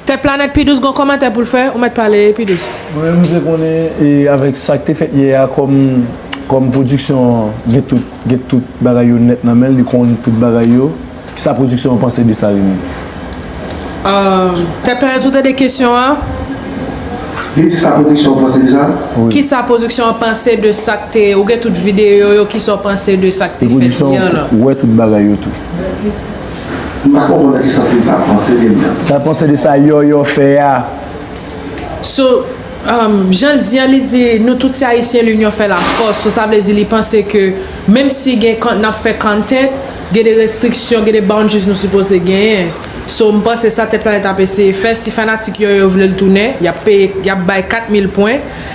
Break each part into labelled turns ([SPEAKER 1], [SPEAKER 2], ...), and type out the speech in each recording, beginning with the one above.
[SPEAKER 1] Tèt planèt pi dous gon kòmantè poul fè ou mèt pale pi dous. Mwen menm mse konnen
[SPEAKER 2] avèk sak te fèt yè a kòm kòm production gen tout gen tout bagay yo nèt nan menl li konn tout bagay yo kisa production an panse de sa li menm.
[SPEAKER 1] Tèt planèt ou tande kesyon an?
[SPEAKER 3] Li di sa production an panse de sa? Kisa production
[SPEAKER 1] an panse de sak te ou gen tout video yo kisa ou panse de sak te fèt yè lan? Production wè tout bagay yo tou.
[SPEAKER 3] M pa konprann nan ki sans li sa panse de mwen. Sa l panse de sa
[SPEAKER 2] Yòyò fè a? So,
[SPEAKER 1] jan l di an, li di nou tout se Ayisyen linyon fè lafòs. So sa vle di li panse ke menm si gen n ap fè content, gen de restriksyon, gen de boundaries nou sipoze genyen. So m panse sa Tèt Planèt ap eseye fè. Si fanatik Yòyò vle l tounen, y ap peye, y ap bay 4 mil pwen.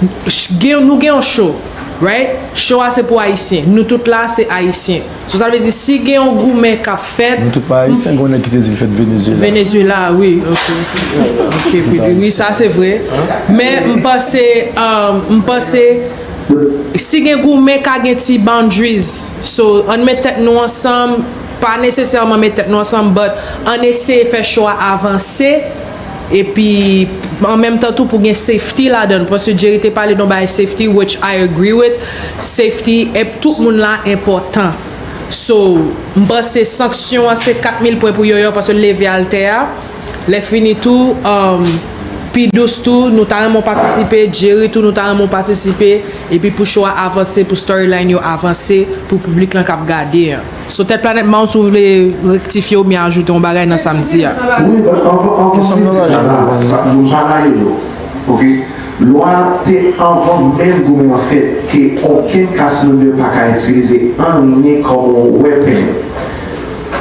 [SPEAKER 1] Nou gen yon show right show a se pou ayisyen nou tout la se ayisyen so sa vle di si gen yon goumen kap fèt Nou tout pa ayisyen gen yon
[SPEAKER 2] nèg ki te di li fèt Venezuela Venezuela
[SPEAKER 1] wi ok ok pidi wi sa se vre men m panse m panse si gen goumen ka gen ti boundaries so ann met tèt nou ansanm pa nesesèman met tèt nou ansanm but ann eseye fè show a avanse. epi an menm tan tou pou gen safety ladan l paske Jerry te pale don bagay safety which I agree with safety ep tout moun la enpòtan so m panse sanksyon an se 4000 pwen pou Yoyo paske l leve altè a lè fini tou umm P douce tou nou ta renmen w patisipe Jerry tou nou ta renmen w patisipe epi pou show a avanse pou storyline yo avanse pou piblik lan k ap gade an. So tèt planèt Mars ou vle rektifye oubyen ajoute yon bagay nan sam di a? Wi but
[SPEAKER 3] anvan ke m di sa la, nou pa rayi lò ok, lwa a te anvan menm goumen an fèt ke okenn kas member pa ka itilize anyen kòm yon weapon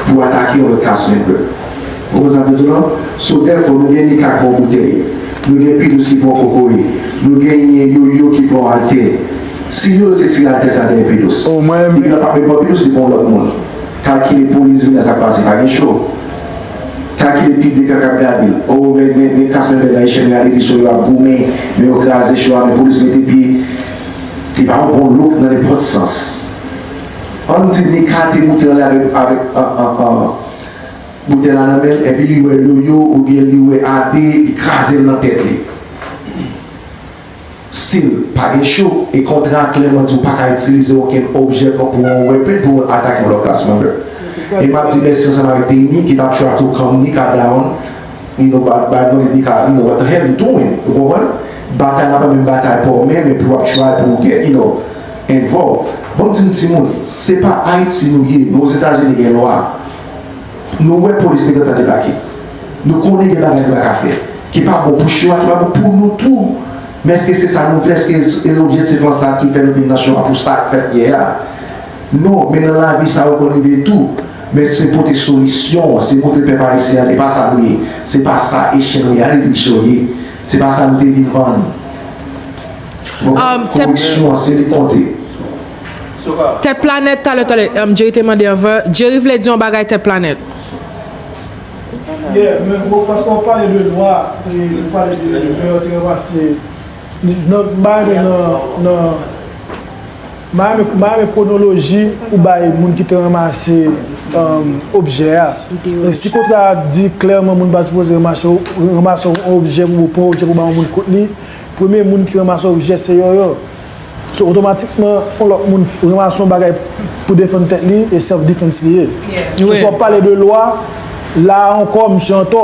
[SPEAKER 3] pou atake yon lòt kas member. Ou konprann sa m vle di w la? So therefore nou gen Mika ki pran yon boutèy, nou gen P-douze ki pran yon kokoye, nou genyen Yoyo ki pran yon altè, Si yo te tire atè sa dèyè Pedos. Oh mwen renmen. Depi nan pa pepon Pedos li pran yon lòt moun. Kalkile police vin nan sak pase pa gen cho. Kalkile piblik la kap gadel. Oh men men men kas men men nan echèl men gade ki cho yo ap goumen men yo kraze cho a men police mete pye. Li pa yon bon look nan nenpòt sans. Ann di Mika te moute anlè avèk avèk an an an boutel la nan menl epi li wè Yoyo oubyen li wè Ade li krazel nan tèt li. Stil, Pa gen cho, e kontra a klèman di w pa ka itilize okenn objè kon pou yon weapon pou w atak yon lòt ras member. E m ap di mèsi ansanm avèk Tayme ki t ap try to calm Nika down, you know, by by no need Nika, you know, what the hell you doing? Ou konprann? Batay la pa menm batay pa w menm epi w ap try pou w get, you know, involved. Ban m di nou timoun, se pa Ayiti nou ye, men Ozetazini gen lwa. Nou wè polis te gentan debake. Nou konnen gen bagay nou pa ka fè, ki pa bon pou cho a, ki pa bon pou nou tou. Men èske se sa nou vle? Èske e objektif lan sa ki fè nou vin nan cho a pou sa k fèt yè a? Non, men nan lavi sa yo konn rive tou. Men se pote solisyon an, se montre pèp ayisyen an e pa sa nou ye. Se pa sa e chen nou ye a e biche yo ye. Se pa sa nou te vin vann. Koripsyon an se li k konte.
[SPEAKER 1] Tèt planèt talè talè um Jerry te mande anvan Jerry vle di yon bagay tèt planèt.
[SPEAKER 4] Yeah men bro paske wap pale de lwa e ou pale de lè yo te ranmase nan mpa renmen nan nan mpa renmen mpa renmen kwonoloji ou bay moun ki te ranmase um objè a e si kontra a di klèman moun pa sipoze ranmase ranmase yon objè pou pran objè pou bay yon moun kot li premye moun ki ranmase objè se yòyò. So otomatikman yon lòt moun ranmase yon bagay pou defann tèt li e self defense li ye. So si wap pale de lwa, la ankò misye antò.